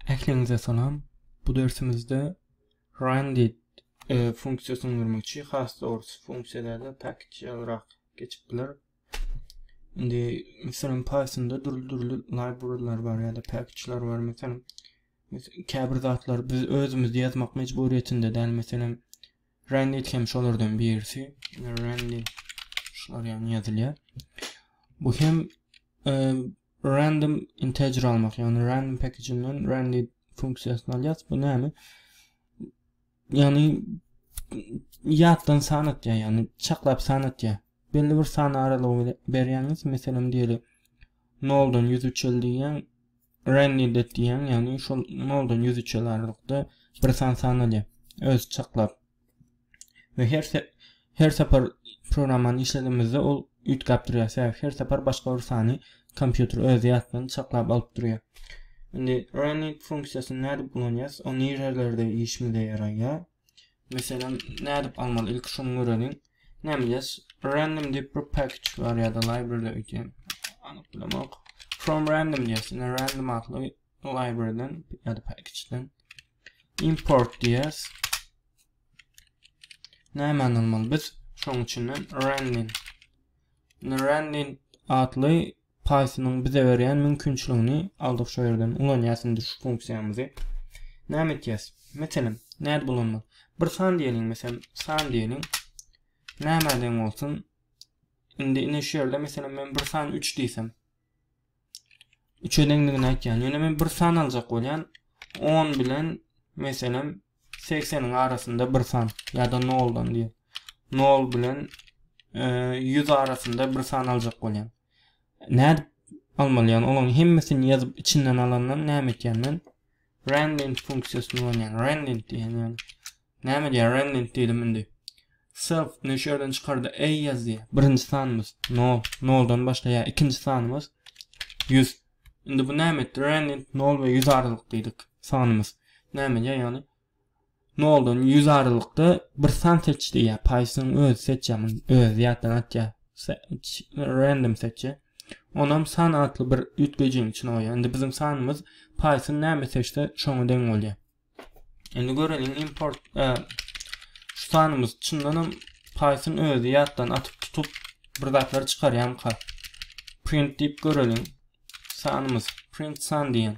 Ähliňize salam. Bu dersimizde Randit e, funksiýasyny görmekçi. Has dogrusy funksiýalarda package ýalyrak geçip biler. Indi meselem Pythonda dürli-dürli librarylar bar ýa-da package'lar bar. Meselem käbir zatlar biz özümiz ýazmak mejburiýetinde däl. Meselem Randit hem şolardan birisi. Randit şular ýaly ýazylýar. Bu hem e, Random integer almak, ýagny random packaginden randy funksiýasyny alýas. Bu näme? Ýagny ýatdan san atýar, ýagny çaklap san atýar. Belli bir san aralygy berýäňiz, meselem diýeli 0 dan 100 üçel diýýän, randy det diýýän, ýagny şol 0 dan 100 üçel aralykda bir san san alýar. Öz çaklap we her her sapar programmany işledemizde ol üýtgäp durýar sebäbi her sapar başga bir sany kompýuter öz ýatdan çaklap alyp durýar indi running funksiýasyny nädip ulanýas o nirelerde işimize ýaraýar meselem nädip almaly ilki şuny göreliň nämeýas random diýip bir package bar ýa-da library öýtýän anyk bilemok from random diýýäs indi random atly Librarydan ýa-da packageden import diýýäs. Nämäni almaly biz? Şoň üçinden running. Running atly Python-yň bize berýän mümkinçiligini aldyk şu ýerden ulanýas indi şu funksiýamyzy. Näme etýäs? Meselem, näde bulanmaly? Bir san diýeliň, meselem, san diýeliň. Nämäden bolsun? Indi ine şu ýerde meselem men bir san 3 diýsem, üçe deňligini aýtýan. Ýöne men bir san aljak bolýan. 10 bilen meselem 80-iň arasynda bir san ýa-da 0-dan diýip. 0 bilen 100 e, arasynda bir san aljak bolýan. Nädip almalýan? Olaryň hemmesini ýazyp içinden alandan näme etýän men? Renlint funksiýasyny ulanýan. Renlint diýen ýaly. Näme diýýär? Renlint diýdim indi. Self ne şu ýerden çykardy? A ýazýar. Birinji sanymyz 0. 0-dan başlaýar. Ikinji sanymyz 100. Indi bu näme etdi? Renlint 0 we 100 aralykdaýdyk sanymyz. Näme diýýär? Ýagny Noldan ýüz aralykda bir san seç diýýär. Python öz seçýär muny. Öz ýatdan atýar. Random seçýär. Onam san atly bir üýtgejiň içine goýýar. Indi biziň sanymyz Python näme seçse şoňa deň bolýar. Indi göreliň import e, şu sanymyz çyndan hem Python özi ýatdan atyp tutup bir zatlar çykarýamka. Print diýip göreliň. Sanymyz print san diýen.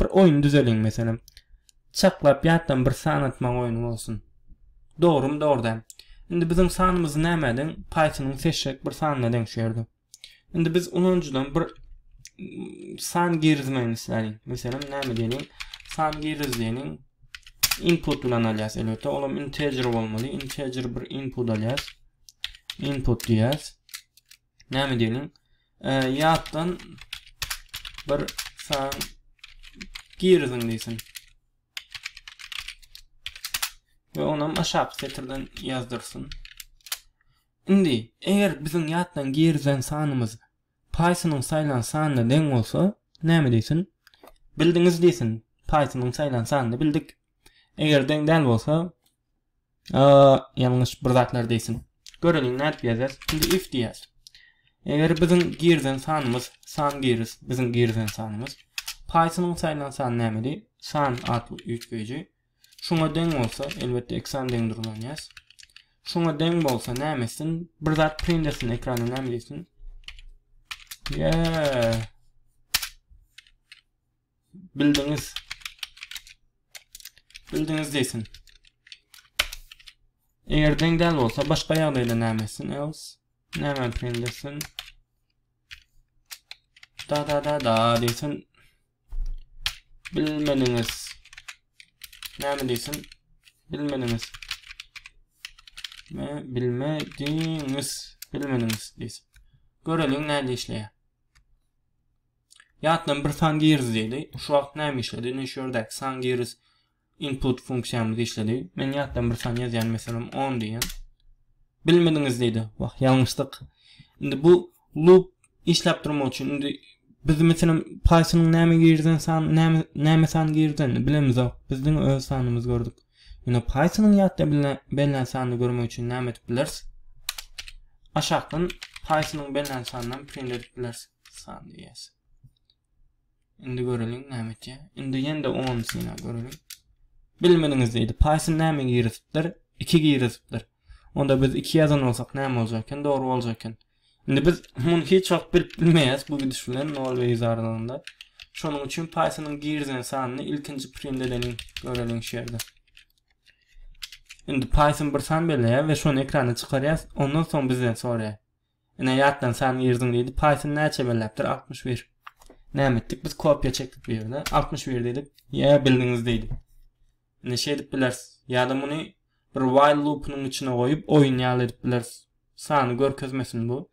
Bir oýun düzeliň meselem. Çaklap ýatdan bir san atmaň oýny bolsun. Dogrymy dogry däl. Indi biziň sanymyzy nämä deň paýtynyň seşşek bir sanyna deň şu ýerde. Indi biz ulanyjydan bir san girizmegini isläliň. Meselem näme diýeliň? San giriz diýeliň. Input bilen alýas elbetde. Olam integer bolmaly. Integer bir input alýas. Input diýäs. Näme diýeniň? E, ýatdan bir san giriziň diýsin. Ve onam aşak setirden yazdırsın. Şimdi eger bizim yatdan girizen sanımız Python'un saylan sanına den olsa näme deysin? Bildiniz deysin. Python'un saylan sanını bildik. Eger den del olsa ýalňyş bir zatlar diýsin. Göreliň nädip ýazýas? Indi if diýýäs. Eger biziň girizen sanymyz san giris, biziň girizen sanymyz Python-yň saýlan sany nämedi? San atly üýtgeýji. Şuňa deň bolsa, elbetde iki sany deň durlanýas. Şuňa deň bolsa näme etsin? Bir zat print etsin ekrana näme diýsin? Yeah. Bildiňiz. Bildiňiz diýsin. Eger deň däl bolsa başga ýagdaýda näme etsin? Else näme etsin desin? Da da da da diýsin. Bilmediňiz. Näme diýsin? Bilmediňiz. Me bilmediňiz. Bilmediňiz diýsin. Göreliň näme işleýär. Ýatdan bir san giriz diýeli. Şu wagt näme işledi? Ine şu ýerdäki san giriz input funksiýamyz işledi. Men ýatdan bir san ýazýan, meselem, 10 diýýän. Bilmediňiz diýdi. Wah, ýalňyşdyk. Indi bu loop işläp durmak üçin indi biz meselem Python-yň näme girden san, näme näme san girden bilemizok. Biz diňe öz sanymyzy gördük. Ýöne Python-yň ýatda bellän sanyny görmek üçin näme edip bileris? Aşakdan Python-yň bellän sanyndan print edip bileris. Sanly ýes. Indi göreliň näme etýär. Indi ýende 10 synap göreliň. Bilmediňiz diýdi. Python näme girizipdir? 2 girizipdir. Onda biz 2 ýazan bolsak näme boljak eken? Dogry boljak eken. Indi biz muny hiç wagt bilip bilmeýäs bu gidiş bilen 0 we 100 aralygynda. Şonuň üçin Python-yň girizen sanyny ilkinji print edeniň göreliň şu ýerde. Indi Python bir san belleýär we şony ekrana çykarýas. Ondan soň bizden soraýar. Ine ýatlansaň girdiň diýdi. Python näçe belläpdir? Altmyş bir. Näme etdik? Biz kopiýa çekdik bu ýerde. Altmyş bir diýdik. Ýa bildiňiz diýdi. Ine şeý edip bilersiz. Ýa-da muny bir while loopynyň içine goýup oýun ýaly edip bilersiz. Sany görkezmesin bu.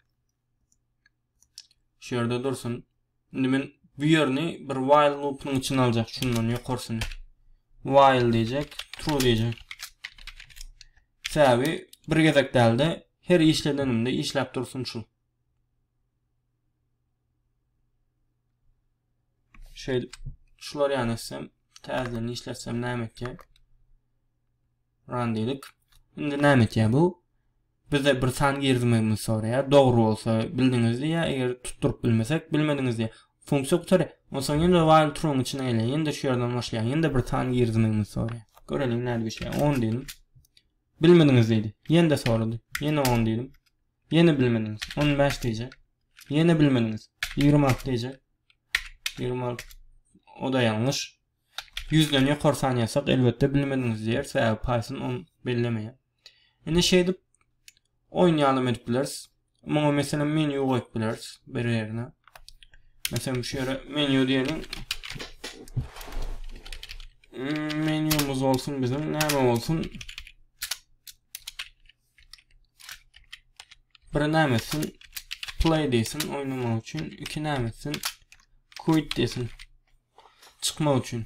Şu ýerde dursun. Indi men bu ýerini bir while loopunyň içine aljak şundan ýokarsyny. While diýjek, true diýjek. Sebäbi bir gezek däldi. Her işledenimde işläp dursun şu. Şöyle şular yani etsem, tezden işletsem näme etjek? Run dedik. Şimdi näme etjek bu? Bizde bir san girizmegimizi soraýar, dogry bolsa bildiňiz diýýär, eger tutduryp bilmesek bilmediňiz diýýär. Funksiýa gutarýar. Onsoň ýene-de while trueň içine gelýär, ýene-de şu ýerden başlaýar, ýene-de bir san girizmegimizi soraýar. Göreliň nädip işleýär. On diýdim. Bilmediňiz diýdi. Ýene-de sorady. Ýene on diýdim. Ýene bilmediňiz. On bäş diýjek. Ýene bilmediňiz. Ýigrimi alty diýjek. Ýigrimi alty. O-da ýalňyş. Ýüzden ýokary san ýazsak, elbetde bilmediňiz diýer, sebäbi Python on bellemeýär. Indi şeýdip oýun ýalam edip bileris. Muňa meselem menýu goýup bileris bir ýerine. Meselem şu ýere menýu diýelim. Menýumyz bolsun biziň näme bolsun? Bir näme etsin? Play diýsin oýnamak üçin, iki näme etsin? Quit diýsin. Çykmak üçin.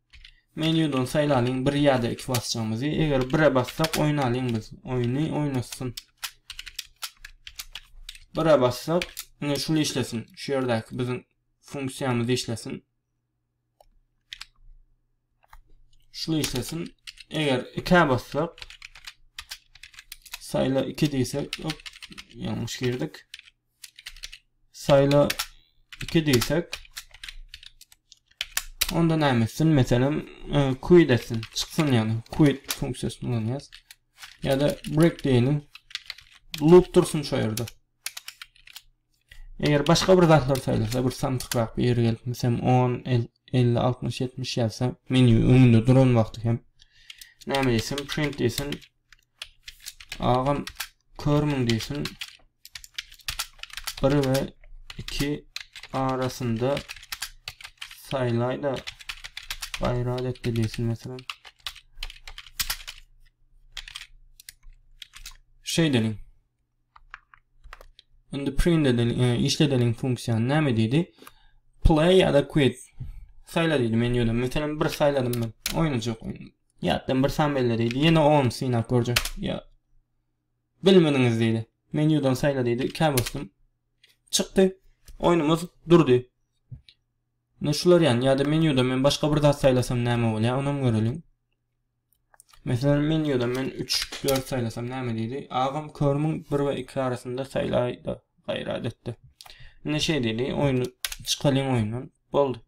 Menýudan saýlalyň bir ýa-da iki basjagymyzy. Eger bire bassak oýnalyň biz. Oýny oýnasyn. Bire bassak, ine şul işlesin. Şu ýerdäki biziň funksiýamyz işlesin. Şul işlesin. Eger ikä bassak, saýla iki diýsek, hop, ýalňyş girdik. Sayla 2 diýsek. Onda näme etsin? Meselem, e, quit etsin, çyksyn ýagny quit funksiýasyny ulanýas. Ýa-da break diýelim. Loop dursun şu ýerde. Eger başga bir zatlar saýlasa, bir samsykrak bir ýere gelip, meselem 10, 50, 60, 70 ýazsa, menýu öňünde duran wagty hem näme diýsem, print diýsin, Agam körmüň diýsin. 1 we 2 arasynda saýlaýda gaýrat etdi diýsin meselem. Şeýdeliň. Indi print edeliň, e, işledeliň funksiýany näme diýdi? Play ya da quit. Saýla diýdi menýudan. Meselem bir saýladym men. Oýnajak. Ýatdan bir san belle diýdi. Ýene on synap görjek. Ýa. Bilmediňiz diýdi. Menýudan saýla diýdi. Ikä basdym. Çykdy. Oýnumyz durdy. Ne şular ýan ýa-da menýuda men başga bir zat saýlasam näme bolýar, onam göreliň. Meselem, menýuda men 3, 4 saýlasam näme diýdi? Agam körmüň 1 we 2 arasynda saýlaýda gaýrat etdi. Indi şeý diýdi, oýny çykalyň oýundan. Boldy.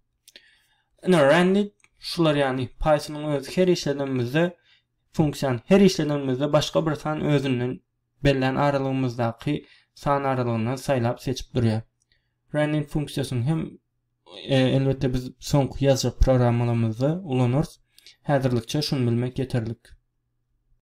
Ine Randit şular ýagny Pythonyň özi her işledenimizde funksiýany her işledenimizde başga bir san özünden bellän aralygymyzdaky san aralygyndan saýlap seçip durýar. Randit funksiýasyny hem elbetde biz soňky ýazjak programmalarymyzda ulanarys. Häzirlikçe şuny bilmek ýeterlik.